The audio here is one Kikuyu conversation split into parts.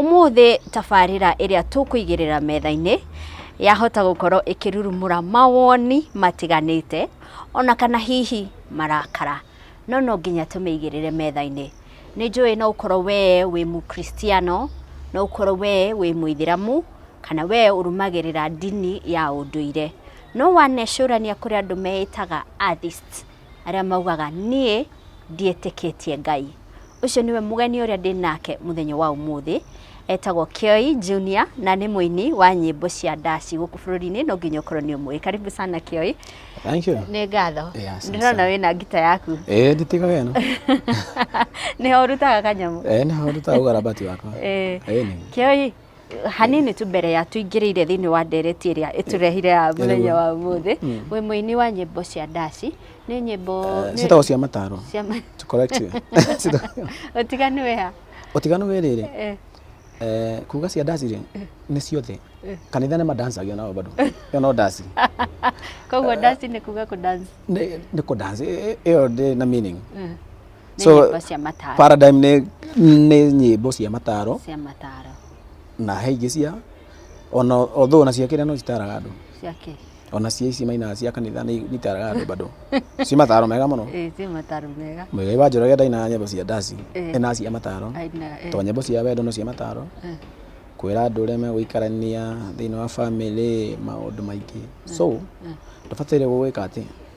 Ũmũthĩ tabarĩra ĩrĩa tũkũigĩrĩra metha-inĩ yahota gũkorwo ĩkĩrurumũra mawoni matiganĩte ona kana hihi marakara, no no nginya tũmĩigĩrĩre metha-inĩ. Nĩ njũĩ no ũkorwo we wĩ Mũkristiano, no ũkorwo we wĩ Mũithĩramu, kana we ũrũmagĩrĩra ndini ya ũndũire. No wanecũrania kũrĩ andũ meĩtaga Atheists. arĩa maugaga niĩ ndiĩtĩkĩtie Ngai. Ũcio nĩwe mũgeni ũrĩa ndĩ nake mũthenya wa ũmũthĩ. Etagwo Kioi Junior na nĩ mũini wa nyĩmbo cia ndaci gũkũ bũrũri-inĩ, no nginya ũkorwo nĩ ũmũĩ. Karibu sana Kioi. Thank you. Nĩ ngatho. Yeah, asante Ndĩrona sana. wĩna ngita yaku. Eh, nditiga wena. Nĩho ũrutaga kanyamũ. Eh, nĩ haruta ugarabati wakwa. Eh. Eh, nĩ. Kioi, hanini tu mbere ya tũingĩrĩire thĩinĩ wa ndereti ĩrĩa ĩtũrehire ya mũthenya wa ũmũthĩ mm. wĩ mũini wa nyĩmbo cia ndaci nĩ nyĩmbo eh, ciĩtagwo cia mataro ũtiganu wĩ ha ũtiganu wĩ rĩrĩ eh. Eh, kuga cia ndaci rĩ nĩ ciothe kanitha nĩ madancagia nao bado ĩyo no ndaci koguo ndaci nĩ kuga kũ dance nĩ kũ dance ĩyo ndĩ na meaning nĩ So, nyĩmbo cia mataro paradigm nĩ nĩ nyĩmbo cia mataro cia mataro na he ingĩ cia ona although ona cia kĩrĩa no citaraga andũ cia kĩ ona cia ici mainaga cia kanitha nĩ itaraga andũ bado ci mataro mega mũno Eh, cia mataro mega mũigai wa njoroge ndainaga nyĩmbo cia ndaci Eh. ena cia mataro aina eh, to nyĩmbo cia wendo no cia mataro eh, kwĩra andũ ũrĩa megũikarania thĩinĩ wa bamĩrĩ maũndũ maingĩ so ndũbataire gũgwĩka atĩ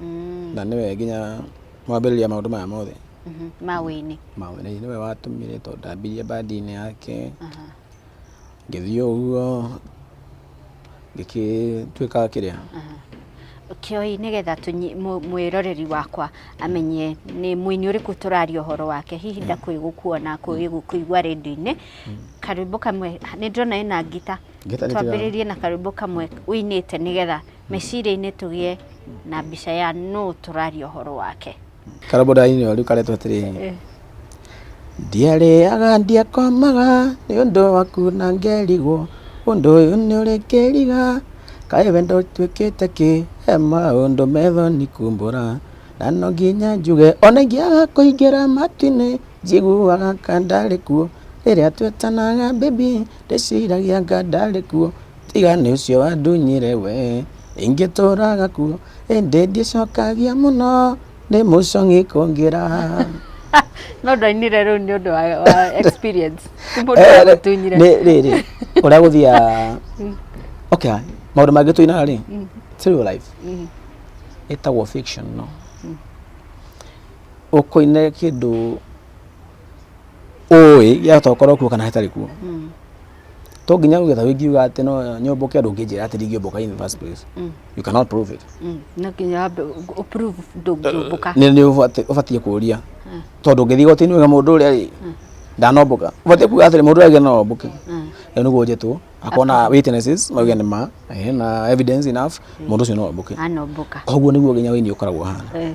Mm. na nĩwe nginya mwambĩrĩria maũndũ maya mothe Mhm. Mawĩinĩ. mawĩra-inĩ nĩwe watũmire tondũ ndambirie bandinĩ yake Aha. ngĩthiĩ ũguo ngĩkĩtuĩka kĩrĩa Kioi nĩgetha tũnyi- mũ- mwĩroreri wakwa amenye nĩ mũini ũrĩkũ tũraria ũhoro wake hihi ndakwĩ gũkuona kwĩ gũkũigua rĩndio-inĩ karwĩmbo kamwe nĩ ndĩrona ĩna ngita Ngita nĩ twambĩrĩrie na karwĩmbo kamwe ũinĩte nĩgetha meciria-inĩ tũgĩe na mbica ya nũ tũraria ũhoro wake. Karũmbo ndarainĩ rĩu karetwo atĩrĩ ndiarĩaga ndiakomaga nĩ ũndũ waku na ngerigwo ũndũ ũyũ nĩ ũrĩ kĩriga kaĩ wendo tuĩkĩte kĩ he maũndũ methoni kumbũra na no nginya njuge ona ingĩaga kũingĩra matu-inĩ njiguaga ka ndarĩ kuo rĩrĩa twetanaga baby ndĩciragia nga ndarĩ kuo Tiga nĩ ũcio wandunyire we, ingĩtũra gakuo, ĩndĩ ndicokagia mũno, nĩ mũcong'i kũngĩra. No ndainire rĩu nĩ ũndũ wa experience. Ti mũndũ eh, wagũtunyire. Rĩrĩ, ũrĩa gũthiaga, mm. okay, maũndũ mangĩ tũinaga rĩ, mm. ti real life. Mm. Ĩtagwo fiction no. Ũkũine kĩndũ ũĩ gĩatokorwo kuo kana hatarĩ kuo. To nginya ũgetha ũngiuga atĩ no nyũmbũke ũndũ ũngĩnjĩra atĩ ndingĩũmbũka in the first place. You cannot prove it. Mm. No nginya wambe ũ- ũ- prove ndũngĩũmbũka. Nĩ nĩ ũbati- ũbatiĩ kũũria. Tondũ ũngĩthiĩ igoti-inĩ ũge mũndũ ũrĩa rĩ, ndanombũka. Ũbatiĩ kuuga atĩrĩ mũndũ ũrĩa augire no ombũke. Rĩu nĩguo njĩtwo. Akorwo na witnesses mauge nĩ ma, ehe, na evidence enough, mũndũ ũcio no ombũke. Anombũka. Koguo nĩguo nginya ũini ũkoragwo ũhana. Eh.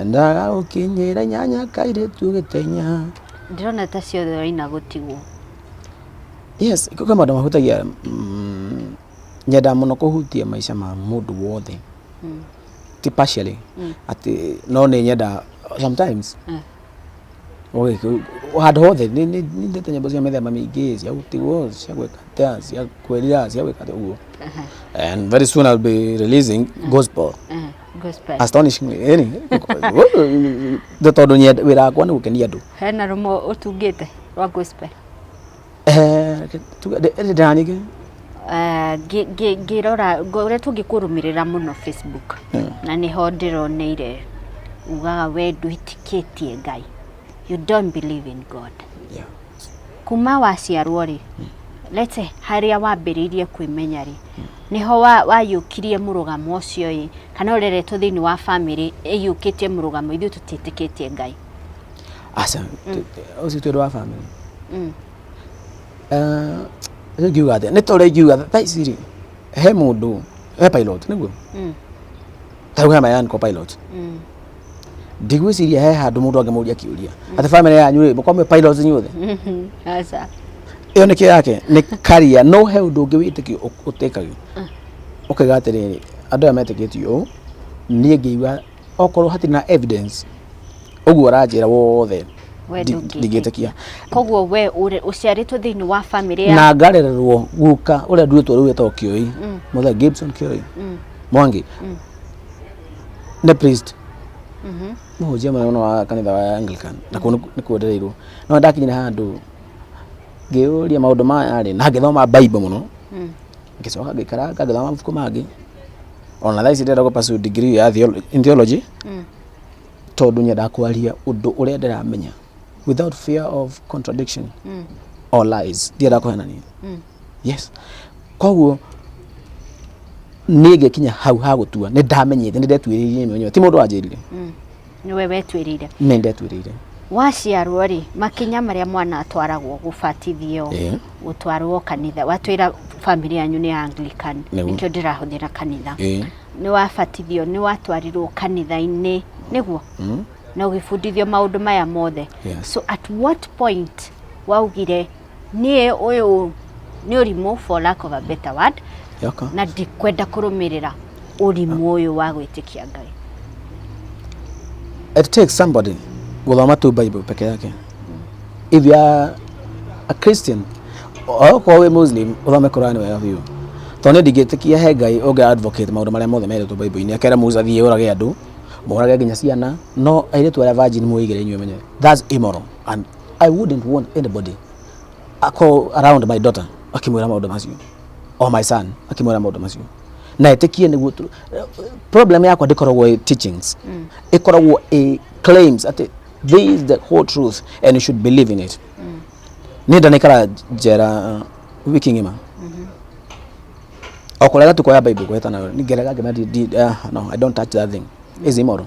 Endaga gũkinyĩra nyanya kairĩtu gĩtenya. Ndĩrona ta ciothe waina gũtigwo. Yes, kwĩ maũndũ mahutagia mm, nyendaga mũno kũhutia maica ma mũndũ wothe mm. ti partially mm. atĩ no nĩ nyendaga sometimes mm handå hothe nä ndä te nyämbo cia mä themba mä ingä cia gå tigwo cia gwä katä cia kwä rira cia gwä katä å guo very soon I'll be releasing gospel gospel astonish me yani the tondu nyenda wira wakwa ni gukenia andu hena rumo utungite rwa gospel eh tuga de de dani ke Eh, ngĩ- ngĩ- ngĩrora ũrĩa tũngĩkũrũmĩrĩra mũno facebook Mm. na nĩho ndĩroneire ugaga we ndwĩtĩkĩtie ngai you don't believe in god yeah Kuma waciarwo-rĩ, let's say harĩa wambĩrĩirie kwĩmenya-rĩ, nĩho waiyũkirie mũrũgamo ũcio-ĩ, kana ũreretwo thĩiniĩ wa bamĩrĩ ĩiyũkĩtie mũrũgamo, ithuĩ tũtiĩtĩkĩtie Ngai? Aca, ũcio ti ũndũ wa bamĩrĩ. Rĩu ingiuga atĩa, nĩ ta ũrĩa ingiuga thaa ici-rĩ, he mũndũ, he pilot nĩguo? Ta rĩu hena Yanko pilot. ndigwĩciria he handũ mũndũ angĩmũria kĩũria atĩ family yanyu rĩ mũkorwo mwĩ pilots inyuothe aca ĩyo nĩkĩo yake nĩ career no he ũndũ ũngĩ wĩtĩkio ũ- ũtĩkagio ũkaiga atĩrĩrĩ andũ aya metĩkĩtie ũũ niĩ ngĩigua okorwo hatirĩ na evidence ũguo ũranjĩra wothe We ndi- ndũngĩtĩkia. ndingĩtĩkia koguo we ũrĩ- ũciarĩtwo thĩinĩ wa bamĩrĩ ya na ngarererwo guka ũrĩa nduĩtwo rĩu etagwo kĩoi mũthee gibson kĩoi mwangi nĩ priest mũhunjia mũnene wa kanitha wa Anglican na kũu nĩ- nĩ kwendereirwo no ndakinyire handũ ngĩyũria maũndũ maya rĩ na ngĩthoma bible mũno ngĩcoka ngĩikara ngagĩthoma mabuku mangĩ ona thaa ici ndĩrenda gũpasu degree ya theolo- in theology tondũ nyendaga kwaria ũndũ ũrĩa ndĩramenya without fear of contradiction or lies ndĩrenda kũhenania yes koguo niä ngä kinya hau ha gå tua nä ndamenyä te nä ndetuä rä irie mwenyewe ti må ndå wanjä rire Mm. nĩwe wetwĩrĩire nä ndetuä rä ire waciarwo rĩ makinya marĩa mwana atwaragwo gũbatithio Ĩĩ. gũtwarwo kanitha watwĩra bamĩrĩ yanyu nĩ ya anglican Nĩguo. nĩkĩo ndĩrahũthĩra kanitha Ĩĩ. nĩ wabatithio nĩ watwarirwo kanitha-inĩ nĩguo na ũgĩbundithio maũndũ maya mothe Yes. so at what point waugire niĩ ũyũ nĩ ũrimũ for lack of a better word Yoko. na ndikwenda kũrũmĩrĩra ũrimũ ũyũ wa gwĩtĩkia ngai it takes somebody gũthoma tu bible peke yake if you are a christian okorwo wĩ muslim ũthome quran wega biũ tondũ nĩ ndingĩtĩkia he ngai ũngĩ advocate maũndũ marĩa mothe merĩtwo bible-inĩ akera musa thiĩ ũrage andũ morage nginya ciana no airĩtu arĩa virgin mwĩigĩre inyuĩ menye that's immoral And I wouldn't want anybody I call around my daughter akimwĩra maũndũ macio or my son akimwĩra maũndũ macio na ĩtĩkie nĩguo tu- problem yakwa ndĩkoragwo ĩ teachings ĩkoragwo ĩ claims atĩ this is the whole truth and you should believe in it nä ndanäikara njera wiki ng'ima okå rega tå koya bible gwetana ngerega ngä no i don't touch that thing is immoral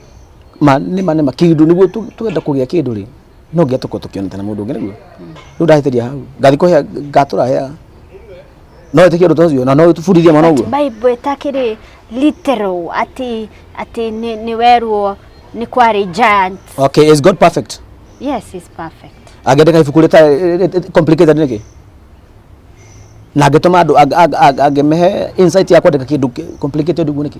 ma nĩ ma nĩ ma kĩndũ nĩguo tu- twenda kũgĩa kĩndũ rĩ no nginya tũkorwo tũkĩonete na mũndũ ũngĩ nĩguo rĩu ndahĩtĩria hau ngathi kũhea ngatũra hea no ĩtĩkia ũndũ ta ũcio na no ũbundithie mwana ũguo bible ĩtakĩrĩ literal atĩ atĩ nĩ nĩ werwo nĩ kwarĩ giant okay is god perfect yes is perfect angĩandĩka ibuku rĩta complicated nĩkĩ na angĩtũma andũ ang- ang- ang- angĩmehe insight ya kwandĩka kĩndũ kĩ- complicated ũguo nĩkĩ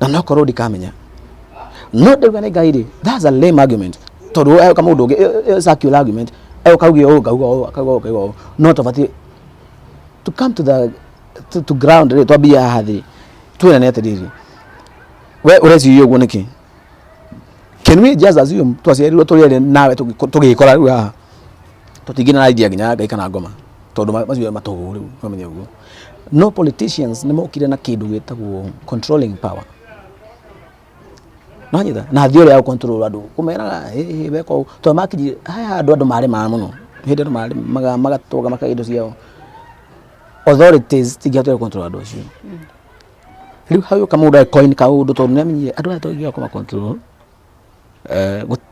na nokorwo ndikamenya no ndauga nĩ ngai rĩ that's a lame argument tondũ we eka mũndũ ũngĩ ĩ- ĩ- ĩ- circular argument ĩ ũkauge ũũ ngauga ũũ akauga ũũ akauga ũũ no tũbatiĩ to come to the to, to ground rĩ twambie haha thĩ twĩrane atĩrĩrĩ we ũreciria ũguo nĩkĩ can we just assume twaciarirwo tũrĩ erĩ nawe tũgĩkora rĩu haha tũtingĩ na idea nginya ngai kana ngoma tondũ ma- macio matũhũ rĩu ũkamenya ũguo no politicians nĩ mokire na kĩndũ gĩtagwo controlling power nonyitha na thiorä ya control andå kå meraga weka å tondå makinyire haya andå andå marä maa må no hä ndä andå magatåga makaga indo ciao authorities tingĩhotire control andå acio rä u hau ka må ndå coin ka å ndå tondå nä amenyire andå aya tångä kå macontrol Eh, gũ-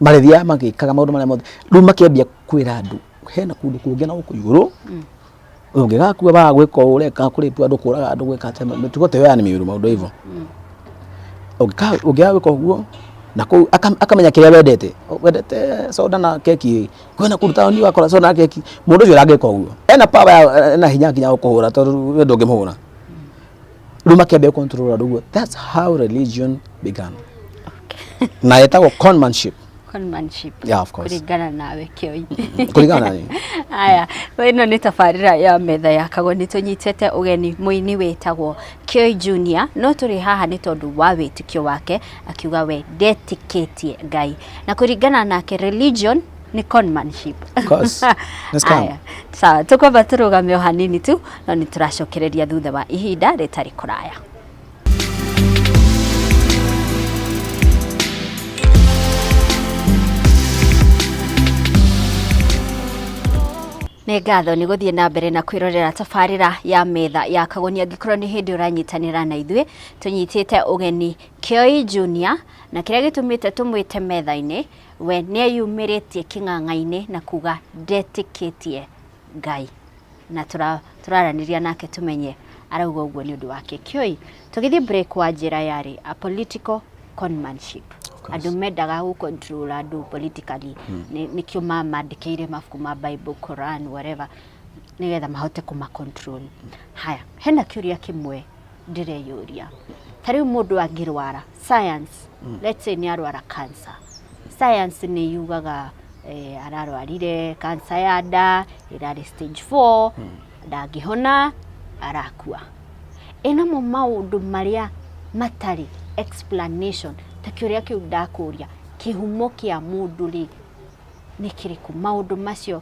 marĩthiaga magĩkaga maũndũ marĩa mothe rĩu makĩambia kwĩra andũ hena kũndũ kũngĩ na gũkũ igũrũ ũngĩgakua wa gwĩka ũũ ũreka kũrĩtu andũ kũraga andũ gwĩka atĩ mĩtugo ta ĩyo ya nĩ mĩũru maũndũ hivyo Ũngĩka- ũngĩaga gwĩka ũguo na kũu aka- akamenya kĩrĩa wendete wendete soda na keki kwena kũndũ taoni wakora soda na keki mũndũ ũcio ũrangĩka ũguo ena power ya- ena hinya nginya gũkũhũra tondũ we ndũngĩmũhũra rä u makĩambia kũnturũra rũguo thats how religion began na ĩtagwo conmanship conmanship Yeah, of course. kũringana nawe kĩoi kũringana na niĩ. aya ĩno nĩ tabarĩra ya metha ya kago nĩ tũnyitĩte ũgeni mũini wĩtagwo kĩoi junior no tũrĩ haha nĩ tondũ wa wĩtĩkio wake akiuga we ndetĩkĩtie ngai na kũringana nake religion nĩ conmanship Cos. Let's come. Aya, sawa tũkwamba tũrũgame o hanini tu no nĩ tũracokereria thutha wa ihinda rĩtarĩ kũraya nĩ ngatho nĩ gũthiĩ na mbere na kwĩrorera tabarĩra ya metha ya kagoni angĩkorwo nĩ hĩndĩ ũranyitanĩra na ithuĩ tũnyitĩte ũgeni kĩoi junior na kĩrĩa gĩtũmĩte tũmwĩte metha-inĩ We nĩeyumĩrĩtie kĩng'ang'a-inĩ na kuga ndetĩkĩtie Ngai. Na tũra- tũraranĩria nake tũmenye arauga ũguo nĩ ũndũ wakĩ. Kĩoi, tũgĩthiĩ break wa njĩra yarĩ a political conmanship. course. Andũ mendaga gũ control andũ politically. Nĩ- Nĩkĩo ma- mandĩkĩire mabuku ma Bible, Quran, whatever nĩgetha mahote kũma control. Haya, hena kĩũria kĩmwe ndĩreyũria ta rĩu mũndũ angĩrwara science mm. let's say nĩ arwara cancer science nĩ yugaga eh, ararwarire cancer ya nda ĩrarĩ stage 4 mm. ndangĩhona arakua ĩnamo maũndũ marĩa matarĩ explanation ta kĩũria kĩu ndakũria kĩhumo kĩa mũndũ rĩ nĩ kĩrĩkũ maũndũ macio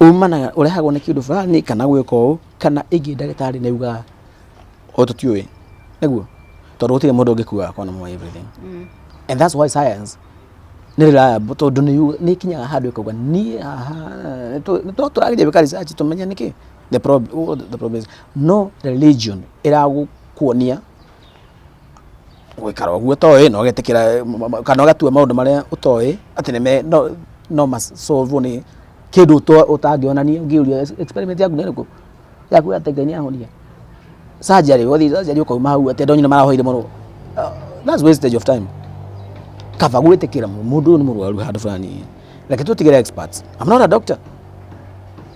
Umanaga, ũrehagwo nĩ kĩndũ fulani kana gwĩka ũũ, kana ĩngĩ ndagĩtarĩ nĩ auga ũyũ tũtiũĩ, nĩguo? Tondũ gũtirĩ mũndũ ũngĩkua akorwo nĩ mũĩ everything. And that's why science nĩ reliable tondũ nĩ yu- nĩ ĩkinyaga handũ ĩkauga niĩ haha nĩ tũ- nĩ tũ- tũrageria gwĩka research tũmenye nĩkĩ the prob- what the problem is. No religion ĩragũkuonia. gũikara ũguo ũtoĩ na ũgetĩkĩra kana ũgatua maũndũ marĩa ũtoĩ atĩ nĩ me- no- no ma solve wo nĩ kĩndũ ũto- ũtangĩonania ũngĩũrio experiment yaku nĩ ĩrĩkũ ya kuga atĩ Ngai nĩ ahonia surgery wathiĩ surgery ũkauma hau atĩ andũ anyu nĩ marahoire mũno Ah, that's wastage of time kaba gwĩtĩkĩra mũndũ ũyũ nĩ mũrwaru handũ fulani reke twĩtigĩre experts I'm not a doctor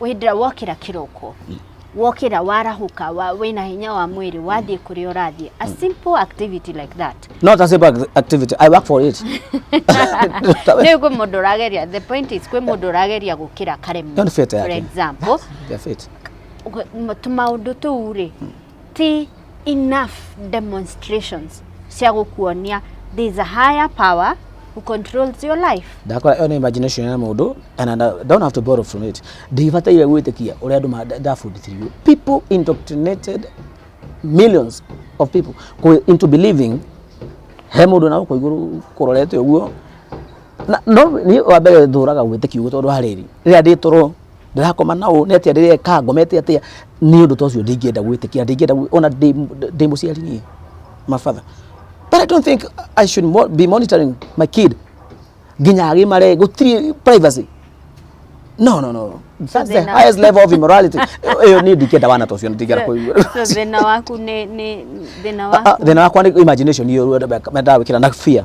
wĩndĩra wokĩra kĩroko wokĩra warahũka wa, wĩna hinya wa mwĩrĩ wathiĩ kũrĩa ũrathiĩ a simple activity like that not a simple ac- activity i work for it rĩu kwĩ mũndũ ũrageria the point is kwĩ mũndũ ũrageria gũkĩra karemu Ndio nĩ beta for yake. example They're fit. tũmaũndũ tũu rĩ ti enough demonstrations cia gũkuonia there is a higher power who controls your life ndakora ĩyo nĩ imagination ya mũndũ and I don't have to borrow from it ndibataire gwĩtĩkia ũrĩa andũ ma- ndabundithirio people indoctrinated millions of people kũ- into believing he mũndũ na gũkũ igũrũ kũrorete ũguo na no niĩ wa mbere thũraga gwĩtĩkia ũguo tondũ harĩrĩ rĩrĩa ndĩtũrwo ndĩrakoma na ũũ nĩ atĩa rĩrĩa eka ngomete atĩa nĩ ũndũ ta ũcio ndingĩenda gwĩtĩkia ndingĩenda gwĩ- ona ndĩ ndĩ mũciari niĩ my father but i don't think i should mo- be monitoring my kid nginya agĩmare gũtirĩ privacy no no no that's the thĩna- highest level of immorality ĩyo niĩ ndingĩenda wana ta ũcio ndingĩenda kũigua So, thĩna waku nĩ nĩ thĩna Ah, ah, waku thĩna wakwa nĩ imagination iyo ndawĩkĩra na fear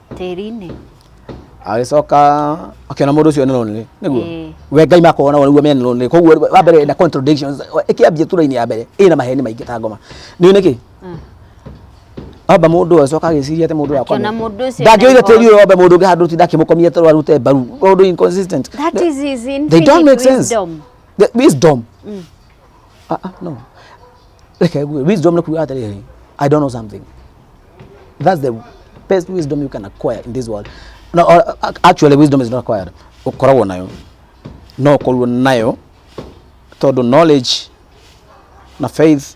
tĩri-inĩ agĩcoka akĩona mũndũ ũcio nĩ lonely nĩguo Ĩĩ. we ngai makona nĩguo me lonely koguo wa mbere na contradictions ĩkĩambia tura-inĩ ya mbere ĩna maheni maingĩ ta ngoma nĩ nĩkĩ Mm. amba mũndũ ũyũ acoka agĩciria atĩ mũndũ ũyũ akona Akĩona mũndũ ũcio ndangĩoire nĩ tĩri ũyũ wambe mũndũ ũngĩ handũ ti ndakĩmũkomia toro arute mbaru ũndũ inconsistent that is his they don't infinite make sense wisdom the wisdom ah ah no reke ngue wisdom nĩ kuga atĩrĩrĩ i don't know something that's the best wisdom you can acquire in this world no, or, ac- actually wisdom is not acquired ũkoragwo nayo no ũkorwo nayo tondũ knowledge na faith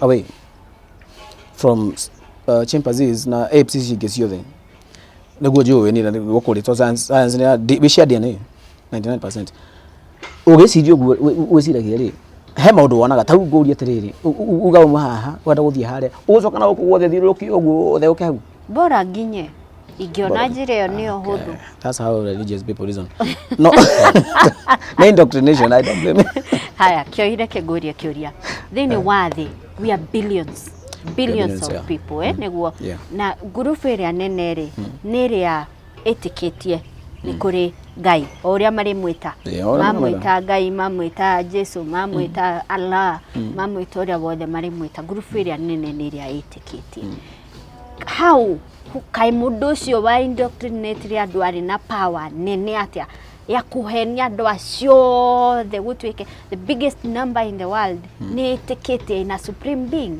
away from uh, chimpanzees na apes ici ingĩ ciothe nĩguo njũĩ nĩ gũkũ rĩ tondũ science- science nĩ ya- ndi- wĩ cia DNA 99% ũgĩciria ũguo wĩ- wĩ- wĩciragia rĩ he maũndũ wonaga ta rĩu ngũria atĩrĩrĩ u- u- uga uma haha wenda gũthiĩ harĩa ũgũcoka na gũkũ guothe thiũrũrũkie ũguo ũtheũke hau Bora nginye. Ingiona njĩra ĩyo nĩyo hũthũ. That's how religious people reason. No, no indoctrination, I don't blame you. Haya, kĩoire kĩngũrie kĩũria. Thĩinĩ wa thĩ, we are billions. Billions Billions, of yeah. people, eh, nĩguo. Yeah. Na ngurubu ĩrĩa nene rĩ, nĩ ĩrĩa ĩtĩkĩtie nĩ kũrĩ Ngai, o ũrĩa marĩmwĩta. Yeah, o ũrĩa Mamwĩta Ngai, mamwĩta Jesu, mamwĩta Allah, mamwĩta ũrĩa wothe marĩmwĩta. Ngurubu ĩrĩa nene nĩ ĩrĩa ĩtĩkĩtie. how kaĩ mũndũ ũcio wa indoctrinate andũ arĩ na power nene atĩa ya kũhenia andũ acio othe gũtuĩke the biggest number in the world nĩ ĩtĩkĩtie ina supreme being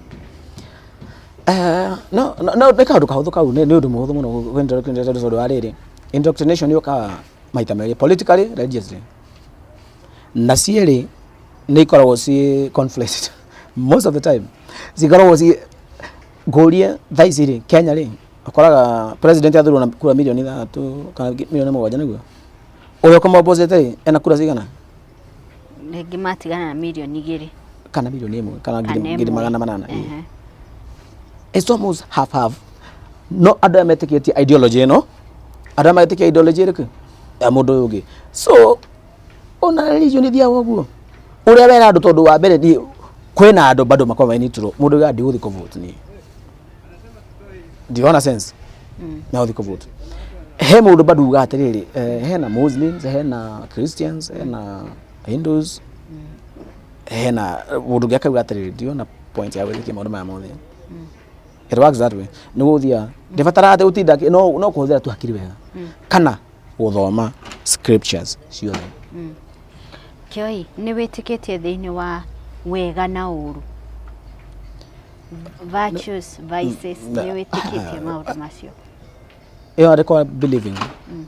Eh, no no no, nä kaå ndå kahå thå kau nä å ndå må hå thå må no tondå wa rä rä indoctrination yå kaga maita merä politically religiously na cierä nä ikoragwo ciä conflict most of the time cikoragwo ciä Ngũrie thaa ici rĩ, Kenya rĩ, ũkoraga president athurwo na kura mirioni ithathatũ kana mirioni mũgwanja nĩguo? Ũrĩa ũkũmũ oppose ĩte rĩ, ena kura cigana? Rĩngĩ matigana na mirioni igĩrĩ. Kana mirioni ĩmwe, kana ngiri Kana ngiri ĩmwe. magana manana. ĩĩ. Ehe. It's almost half half. No andũ aya metĩkĩtie ideology ĩno, andũ aya metĩkĩtie ideology ĩrĩkũ? Ya mũndũ ũyũ ũngĩ. So, ona religion ithiaga ũguo ũrĩa wera andũ tondũ wa mbere niĩ kwĩna andũ bado makoragwo mainitũrwo mũndũ ũyũ ndigũthiĩ kũvote niĩ ndiona sense na ũthiĩ kũvote he mũndũ bado uga atĩrĩrĩ eh, hena muslims hena christians hena hindus hena mũndũ ũngĩ akauga atĩrĩrĩ ndiona point ya gwĩtĩkia maũndũ maya mothe it works that way nĩ gũthia ndĩbatara atĩ ũtinda akĩ- no no kũhũthĩra tu hakiri wega kana gũthoma scriptures ciothe. Mm. Kĩoi, nĩ wĩtĩkĩtie thĩinĩ wa wega na ũru? Virtues, vices, mm, nĩ wĩtĩkĩtie maũndũ macio? Ĩyo arĩ kwa believing. Mm.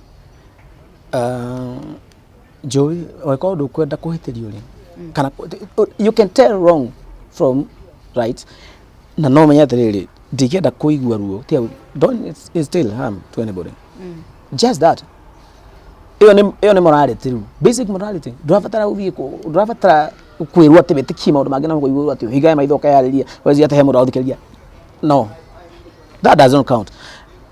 Uh, njũĩ angĩkorwo ndũkwenda kũhĩtĩrio rĩ kana you can tell wrong from right na no menye atĩrĩrĩ ndingĩenda kũigua ruo tiga gũ- don't it's- it's still harm to anybody just that ĩyo nĩ ĩyo nĩ morality rĩu basic morality ndũrabatara gũthiĩ kũ- ndũrabatara kwĩrwo atĩ wĩtĩkie maũndũ mangĩ na kũigua atĩ hingae maitho ũkayarĩria wenzi atĩ he mũndũ ũrathikĩrĩria no that doesn't count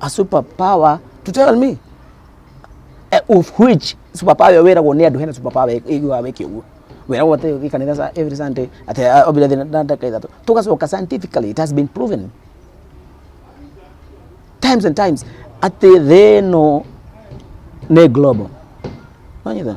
a super power to tell me eh, of which super power wĩragwo nĩ andũ hena super power ĩguaga wĩke ũguo wĩragwo atĩ ũthiĩ kanitha sa- every sunday atĩ ah, obira thina na ndaka ithatũ tũgacoka scientifically it has been proven times and times atĩ thĩ ĩno nĩ global wanyita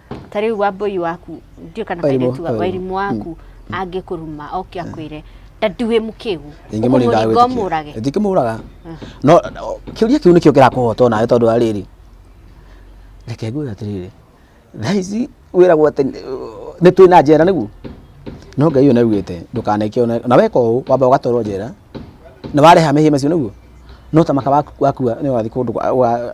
ta rĩu wambũi waku ndiũ kana Wairimũ, kairĩtu wa- wairimũ. wairimũ waku angĩkũruma oke akwĩre ndandi wĩ mũkĩgu Ningĩ mũrĩ ũkũmũringa ndagwĩtĩkia. ũmũrage Ndingĩmũraga. No no, kĩũria kĩu nĩkĩo kĩrakũhota nawe tondũ wa rĩrĩ. Reke ngwĩre atĩrĩrĩ. Thaa ici wĩragwo atĩ uh, nĩ twĩ na njera nĩguo. No Ngai ũyũ nĩaugĩte ndũkaneke ona na weka ũũ wamba ũgatwarwo njera na wareha mehia macio nĩguo. No ta maka waku wakua nĩ wathiĩ kũndũ gwa- gwa-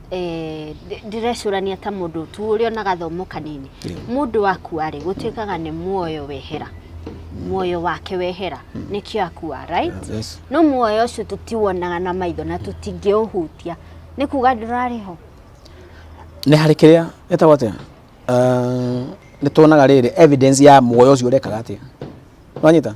eh, ndĩ- ndĩrecũrania ta mũndũ tu ũrĩ ona gathomo kanini mũndũ wakua-rĩ gũtuĩkaga nĩ muoyo wehera muoyo wake wehera nĩkĩo akua right Yes. no muoyo ũcio tũtiwonaga na maitho na tũtingĩũhutia nĩ kuga ndũrarĩ ho nä harä kä rä a ätagwo atä nä tuonaga rä rä evidence ya muoyo å cio å rekaga atä nwanyita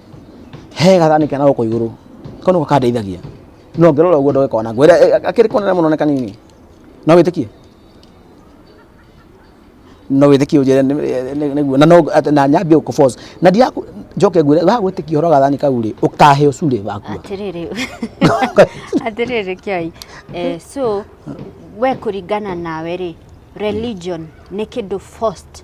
he gathani kena gũkũ igũrũ kau nĩko kandeithagia no ngĩrora ũguo ndoge kona ngwĩra eh, akĩrĩ konene mũno nĩ kanini no wĩtĩkie no wĩtĩkie ũnjĩre nĩ- nĩ- nĩ- nĩguo na no atĩ- na nyambie gũkũboca na ndiaku njoke ngwĩre wa gwĩtĩkia ũhoro wa gathani kau rĩ ũkaheo curĩ wakua atĩrĩrĩ atĩrĩrĩ kiai eh, so we kũringana nawe rĩ religion nĩ kĩndũ forced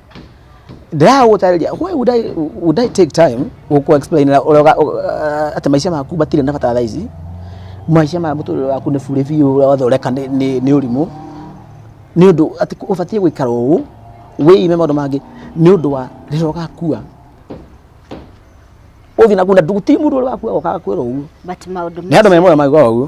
ndĩraha gũtarĩria why would I, would I take time gũkũ explain ũrĩa ũga- ũ- uh, atĩ maica maku matirĩ na bata thaa ici maica ma mũtũrĩre waku nĩ burĩ biũ ũrĩa wothe ũreka nĩ- nĩ nĩ ũrimũ nĩ ũndũ atĩ kũ- ũbatiĩ gũikara ũũ wĩime maũndũ mangĩ nĩ ũndũ wa rĩrĩa ũgakua ũthiĩ na kunda ndugu ti mũndũ ũrĩa wakua okaga kwĩra ũguo but maũndũ nĩ andũ me moyo maigua ũguo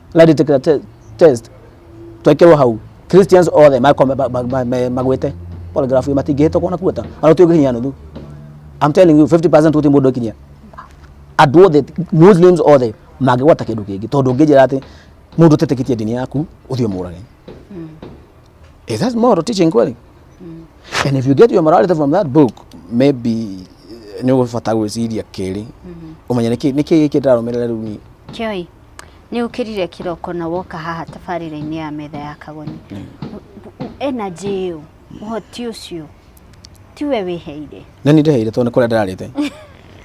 lie detector te- test twekirwo hau christians othe makome ba- ba- ba- me- magwite polygraph ĩyo matingĩhĩtũkwo na kuota ana ũtio ũngĩkinyia nuthu i'm telling you 50% ũtĩ mũndũ ũkinyia andũ othe muslims othe mangĩgwata kĩndũ kĩngĩ tondũ ũngĩnjĩra atĩ mũndũ ũtetĩkĩtie ndini yaku ũthiĩ mũrage is that moral teaching kweli and if you get your morality from that book maybe eh, nĩ ũgũbata gwĩciria kĩrĩ ũmenye nĩkĩ nĩkĩ gĩkĩ ndĩrarũmĩrĩra rĩu niĩ Kioi, nĩ ũkĩrire kĩroko na woka haha tabarĩra-inĩ ya metha ya kagoni energy ĩyo ũhoti ũcio tiwe wĩheire na nĩ ndĩheire tondũ nĩ kũrĩa ndĩrarĩte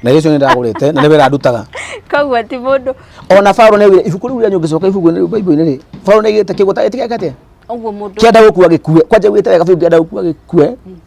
na irio icio nĩ ndagũrĩte na nĩ wĩra ndutaga koguo ti mũndũ ona Paulo nĩ augire ibuku rĩu rĩa nyũngĩcoka ibuku rĩu Bible-inĩ rĩ Paulo nĩ aigĩte kĩgũta gĩtigakate ũguo mũndũ kĩenda gũkua gĩkue kwanja wĩte wega biũ kĩenda gũkua gĩkue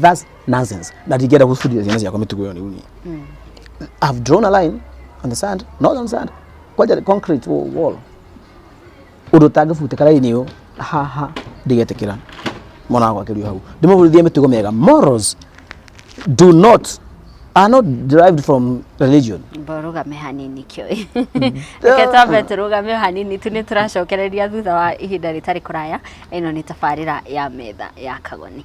that's nonsense ndatingĩenda gũbundithia ciana ciakwa mĩtugo ĩyo rĩu niĩ mm. I've drawn a line on the sand not on sand kwanja concrete wall ũndũ ũtangĩbutĩka raini ũyũ haha ndĩgetĩkĩra mwana wakwa akĩrio hau ndĩmũbundithie mĩtugo mĩega morals do not are not derived from religion rũgame hanini kĩũĩ reke twambe tũrũgame hanini tu nĩ tũracokereria thutha wa ihinda rĩtarĩ kũraya ĩno nĩ tabarĩra ya metha ya kagoni